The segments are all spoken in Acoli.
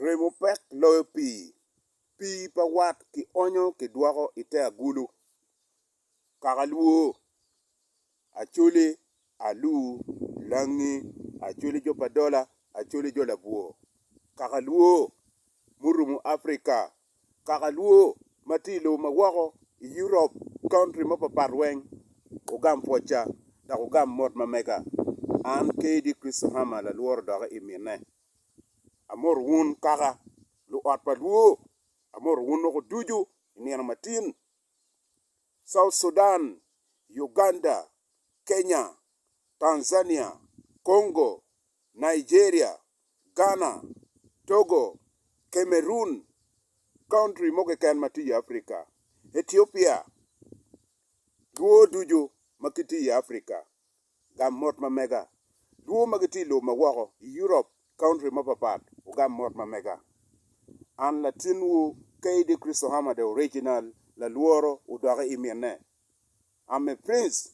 Remo pek loyo pii. Pii pa wat ki onyo ki dwoko i te agulu, kakalwo, acoli, alur, langi, acoli jo pa dola, acoli jo labwor. Kakalwo murumu Africa Kaka lwo ma tye i lobo ma woko i Europe, county mapapat weng ogam pwocca dok ogam mot ma mega. An kadi Crystal Hammer lalworo doki i mine. Amoto wun kaka luot pa lwo. Amoto wun loko ducu i nino matin. South Sudan, Uganda, Kenya, Tanzania, Congo, Nigeria, Ghana, Togo, Cameroon, country mo keken ma tye i Africa, Ethiopia, dwo ducu ma gitye i Africa, ogam mot ma mega. Dwo ma gitye i lobo ma woko i Europe, country mapat pat, ogam mot ma mega. An latinwu, KD Christo Hamada Original, lalworo, odoki i mine. I'm a prince,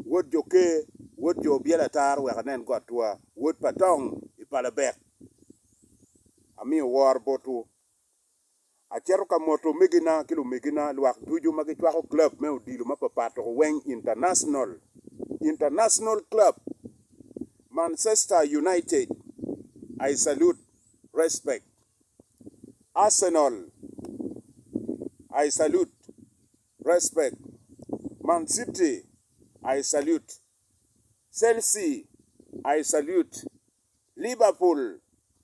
wod jo ker, wod jo obyelo ataro wek anen got twa, wod pa tong i pa Labek. Amiyo woro botwu. Aceto ka moto omegina ki lumegina lwak ducu ma gicwako club me odilo mapapat dok weng international, international club, Mancester United, I salute, respect, Arsenal, I salute. respect, man city I salute, Chelsea I salute, Liverpool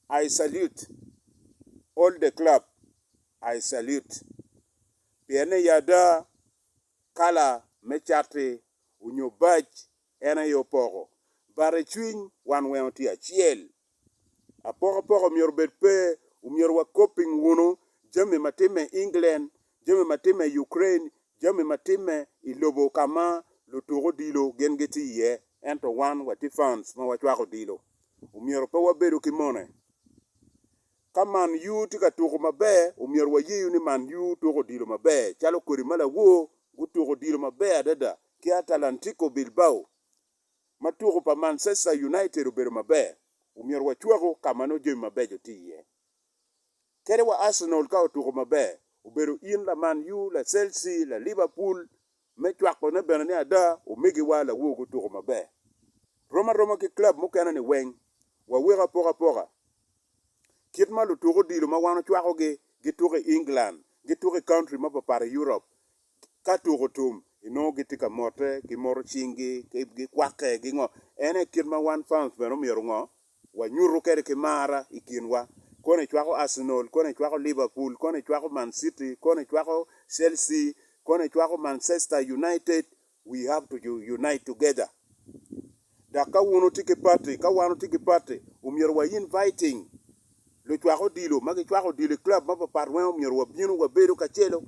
I salute, all the club I salute pienne ya ada kala me cati onyo bac en aye opoko but icwiny wan weng otye acel. Apokapoko myero obed pe, omyero wakob piny wunu jami ma timme i England, jami ma timme i Ukraine, jami ma timme i lobo ka ma lutuk odilo gin gitye iye, ento wan watye fans ma wacwako odilo. Omyero pe wabedu ki mone. Ka Man U tye ka tuko maber, omyero wayeyu ni Man U tuko odilo maber, calo kodi ma lawor gutuko odilo maber adada ki Atalantico Bilbao. ma tuko pa Mancester United obedo maber, omyero wacwaku ka ma nongo jami mabeco tye iye. Kadi wa Arsenal ka otuko maber, obedo in la Man U, la Chelsea, la Liverpool, me cwakone bene ni ada omegiwa lawo gutuko maber. Rom aroma ki club mukene-ni weng, waweko apokapoka kit ma lutuko odilo ma wan ocwakogi gituko i England, gituko i country mapapat i Europe, Ka tuko tum, inongo gitye ka mote, gimoto cinggi, gikwakke, gingo. En aye kit ma wan fans bene omyero ongo? Wanyutu kede ki mar i kinwa. Kono icwako Arsenal, kono icwako Liverpool, kono icwako Man City, kono icwako Chelsea, kono icwako Manchester United, we have to unite together. Dok ka wun wutye ki pati, ka wan wutye ki pati, omyero wa inviting lucwak odilo ma gicwako odilo i club mapapat weng omyero wabinu wabedo kacelo.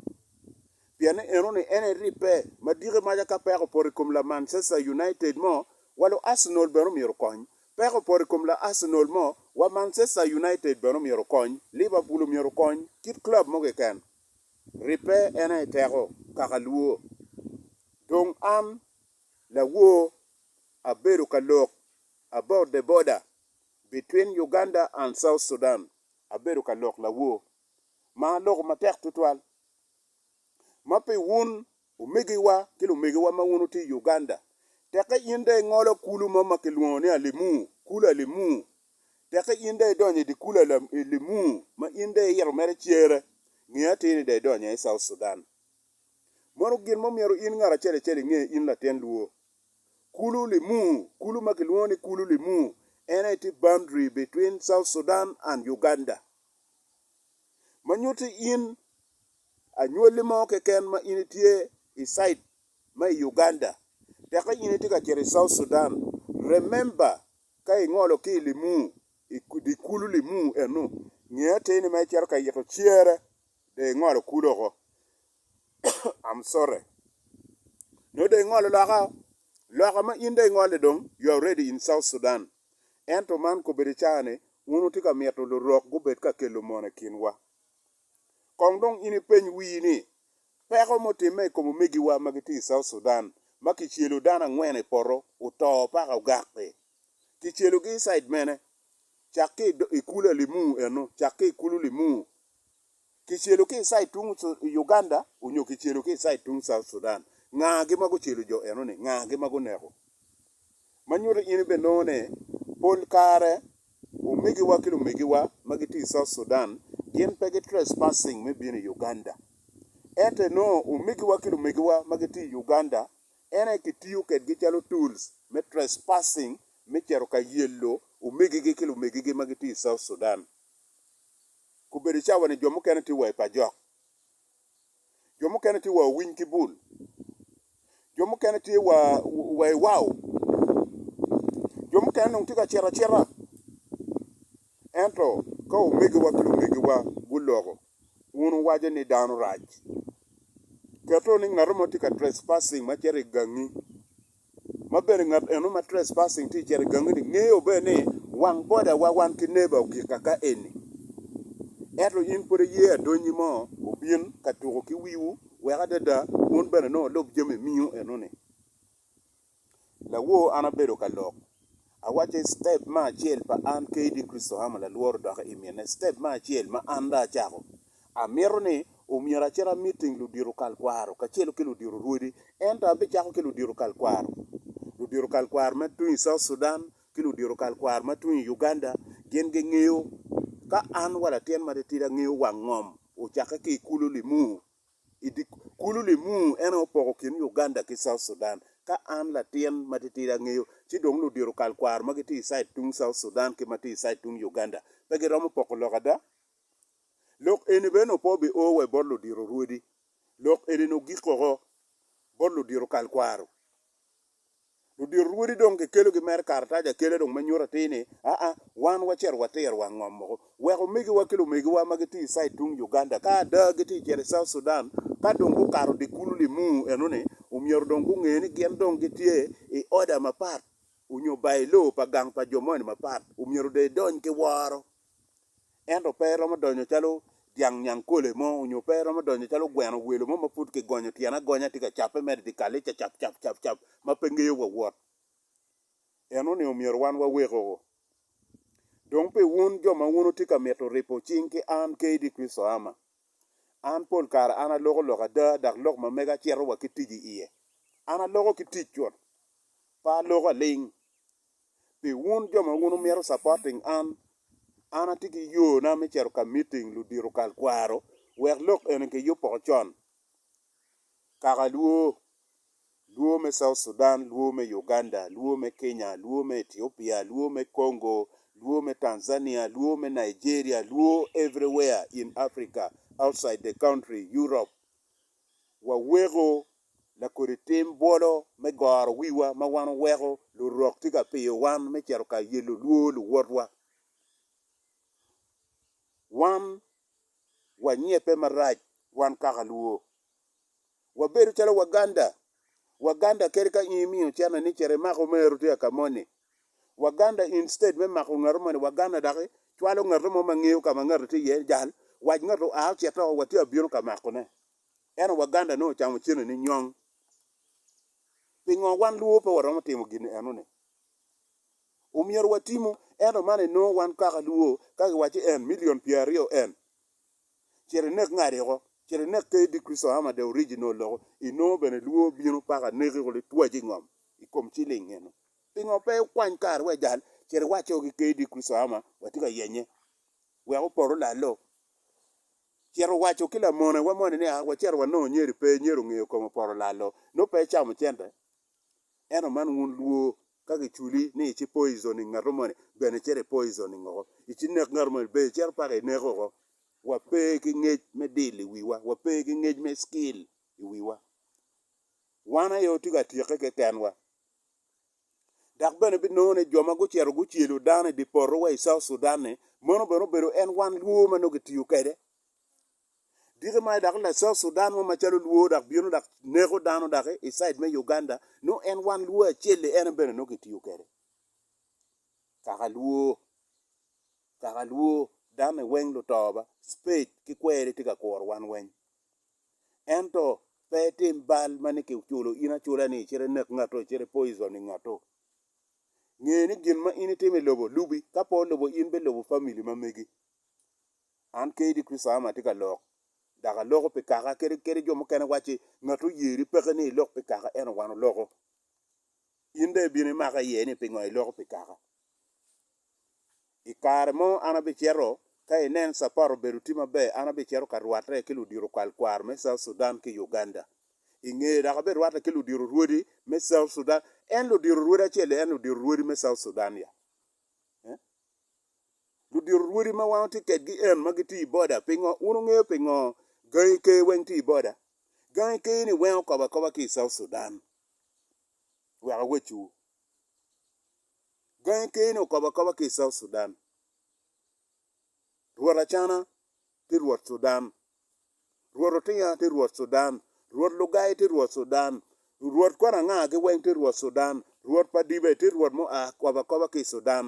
Pien ni enoni en aye ribbe ma diki maca ka peko opoto i kom la Manchester United mo, wa lu Arsenal bene omyero okony. Peko opoto i kom la Arsenal mo, wa Manchester United bene omyero okony, Liverpool omyero okony, kit club mo keken. Ribbe en aye teko, kaka lwor. Dong an. lawor abedo ka lok about the border between Uganda and South Sudan abedo ka lok lawor ma aloko matek tutwal ma pi wun omegiwa ki lumegiwa ma wun wutye i Uganda teke in dong ingolo kulu mo ma kilwongo ni Alimu, kulu Alimu teke in dong idonyo i dye kulu Alimu ma in dong iyito mere cere nge atir ni dong idonyo i South Sudan. Mono gin mo myero in ngat acel acel inge in latin luo? Kulu limu, kulu ma kilwongo ni kulu limu en aye tye boundary between South Sudan and Uganda. Ma nyutti in anywalli mo keken ma in itye i side ma i Uganda tekka in itye ka cito i South Sudan, remember ka ingolo ki i limu, i dye kulu limu eno, nge atir ni ma icito ka yito cere. Dong ingolo kulu oko. I'm sorry. Nongo dong ingolo loka o. Loka ma in dong ingole dong you are ready in South Sudan. Ento man kobedo icaa ni un wutye ka mito lurok gubed ka kelo mono i kinwa. Kong dong in ipeny wii ni peko mutimme i kom omegiwa ma gitye i South Sudan ma kicelo dano angwen i poto oto paka ogakki. Kicelogi i side mene? Cak ki i kulu Alimur eno, cak ki i kulu Limur. kicelo ki icid tung Uganda onyo kicelo ki icid tung South Sudan, nga gi ma gucelo jo eno ni? Nga gi ma guneko? Ma nyuto in ibe nongo ni pol kare omegiwa ki lumegiwa ma gitye i South Sudan gin pe gi trespassing me bino i Uganda. Ento inongo omegiwa ki lumegiwa ma gitye i Uganda en aye kitiyo kedgi calo tools me trespassing me cito ka yelo omegigi ki lumegigi ma gitye i South Sudan. Obedo cawa ni jo mukene tye wa i pajok, jo mukene tye wa owiny ki bul, jo mukene tye wa wa i wau, jo mukene dong tye ka cito acita. Ento ka omegiwa ki lumegiwa guloko, wun wuwaco ni dano rac. Keto ni ngat mo tye ka trespassing ma cito i gangi, ma bene ngat eno ma trespassing tye cito i gangini ngeyo bene ni wang bodawa wan ki neba ogika ka eni. Ento in pud iye adonyi mo obin ka tuko ki wiwu wek adada wun bene nongo wulub jami miyo enoni. Lawor an abedo ka lok, awaco ni step me acel pa an kadi Kricito amo lalworo dok imine step me acel ma an dong acako Amito ni omyero acit amiting ludito kal kwaro kacelu ki ludito rwodi, ento abicako ki ludito kal kwaro. Ludito kal kwaro ma tung i South Sudan ki ludito kal kwaro ma tung i Uganda gin gingeyo ka an wa latin matitidi angeyo wang ngom ocakke ki i kulu Limuru. Kulu Limuru en aye opoko kin Uganda ki South Sudan ka an latin matitidi angeyo ci dong ludito kal kwaro ma gitye i side tung South Sudan ki ma tye i side tung Uganda pe giromo poko lok ada? Lok eni bene opo bio wa bot ludito rwodi. Lok eni-ni ogik woko bot ludito kalkwaro. Ludito rwodi dong kikelogi mere karatac akela dong ma nyuto atir ni, aa, wan wacito watiro wa ngom woko. Wek omegiwa ki lumegiwa ma gitye i cid tung Uganda ka ada gitye ka cito i South Sudan, ka dong gukato dye kulu limuu eno-ni, omyero dong gunge ni gin dong gitye i oda mapat onyo bailo pa gang pa jo moni mapat. Omyero dong idony ki woro ento pe eromo donyo calo dyang nyangkole mo onyo pe eromo donyo calo gweno welo mo ma pud ki gonyo tyene agonya tye ka cape mere i dyekal-li cacap cap cap cap ma pe ngeyo wa wot. Eno ni omyero wan wa weko dong pi wun jo ma wun wutye ka mito ripo cing ki an KD Kricito Ama. An pol kare an aloko lok ada dok lok ma mega cito wa ki tic i iye. An aloko ki tic cut, pe aloko aling. Pi wun jo ma wun wumito supporting an, an atye ki yoo na me cito ka meeting ludito kal kwaro wek lok eni ki yub poko con. Kaka luo, luo me South Sudan, luo me Uganda, luo me Kenya, luo me Ethiopia, luo me Congo, luo me Tanzania, luo me Nigeria, luo everywhere in Africa, outside the country, Europe, waweko lakodi tim bwolo me goro wiwa ma wan weko Lurok tye ka piyo wan me cito ka yelo lwor luwotwa. Wan wanyebbe marac wan kaka lwor. Wabedo calo Waganda Waganda kadi ka in imiyo cene ni cit imak omeru tye ka moni. Waganda instead me mako ngato moni waganda dok icwalo ngato mo ma ngeyo ka ma ngato tye iye jal wac ngato oa ocito oo watye abino ka makone eno waganda nongo ocamo cene ni nyong pingo wan luo pe waromo timo gini eno ni omyero watimo eno man enongo wan kaka luo ka giwaco en million pyer aryo en Cit inek ngati oko. Cit inek KD Christohammer the original loko inongo bene lwor bino paka neki kulu itwaci ngom ikom ciling eno. Pingo pe ikwany kari wek jal cit iwacce o ki KD Christohammer watye ka yenye wek opoto lalo. Cit iwacce o ki lamone wa moni ni a wacito wanongo nyeri pe nyeri ongeyo kome opoto lalo nongo pe icamo cente Ento man wun lwo, ka giculi ni ici poison i ngato moni, bene icit i poison ngoko, ici nek ngato moni, bene icito paka ineke oko. Wape ki ngec me deal i wiwa, wape ki ngec me skill i wiwa. Wan aye watye ka tyeke kekenwa. Dok bene binongo ni jo ma gucito gucelo dano i dye poto wa i South Sudan-ni, meno bene obedo en wan lwo ma nongo gitiyo kwede. Dito ma dok la South Sudan mo macalo luo dok bino dok neko dano dok i side me Uganda nongo en wan luo acel li en bene nongo kitiyo kwede. Kaka luo, kaka luo dame weng luto ba spade ki kweri tye ka kuro wan weng. Ento pe itim bal ma ni kiculo in acula ni icit inek ngatu icit i poison i ngatu. Nge ni gin ma in itimo i lobo lubi ka po lobo in bilubo family ma megi. An kadi Kricitayo ama atye ka lok, dok aloko pi kaka. Kadi, kadi jo mukene wacci, Ngat oyeri peke ni ilok pi kaka, ento wan oloko. In dong ibino imaka iye ni pingo iloko pi kaka? I kare mo an abicito, ka inen capat obedo tye maber, an abicito ka rwatte ki ludito kwalkwar me South Sudan ki Uganda. I ngeye dok abirwatte ki ludito rwodi me South Sudan. En ludito rwodi acel-li? En ludito rwodi me South Sudan ya? Ee. Ludito rwodi ma wan watye kedgi en ma gitye i boda. Pingo? Wun wungeyo pingo gangi ker weng tye i boda? Gangi ker ni weng okobo akoba ki i South Sudan. Wek awecciwu. Gangi ker ni okobo akoba ki i South Sudan. Rwot Acana tye rwot Sudan. Rwot Otinga tye rwot Sudan. Rwot Lugai tye rwot Sudan. Rwot kwana anga gi weng tye rwot Sudan. Rwot pa Dibe tye rwot mu a kobo akoba ki i Sudan.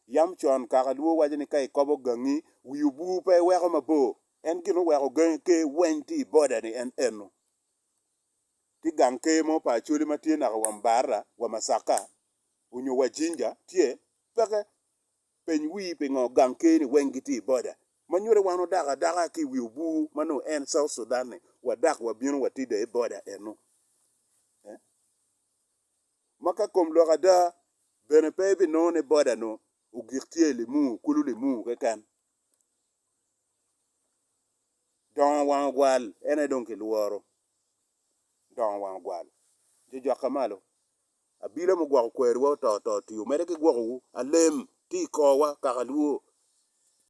Yam con kaka lwor waco ni ka ikobo gangi, wi obwur pe iweko mabor. En gin oweko gangi ker weny tye i boda ni en eno. Tye gang ker mo pa Acholi ma tye naka wa Mbarara, wa Masaka, onyo wa Jinja, tye? Peke. Peny wii pingo gang ker ni weny gitye i boda. Ma nyuto wan odako adaka ki wi obwur ma nongo en South Sudan ni, wadak wabino watida i boda eno. Eh? ma ka kom lok ada, bene pe ibinongo ni boda-nu ogik tye i Limuru, kulu Limuru keken. Dongo wang ogwal en aye dong kilworo. Dongo wang ogwal. Jo jwakke malo. Abila mugwoko kweriwa oto to ti omedde ki gwokowu. Alem, ti i korwa, kaka lwor.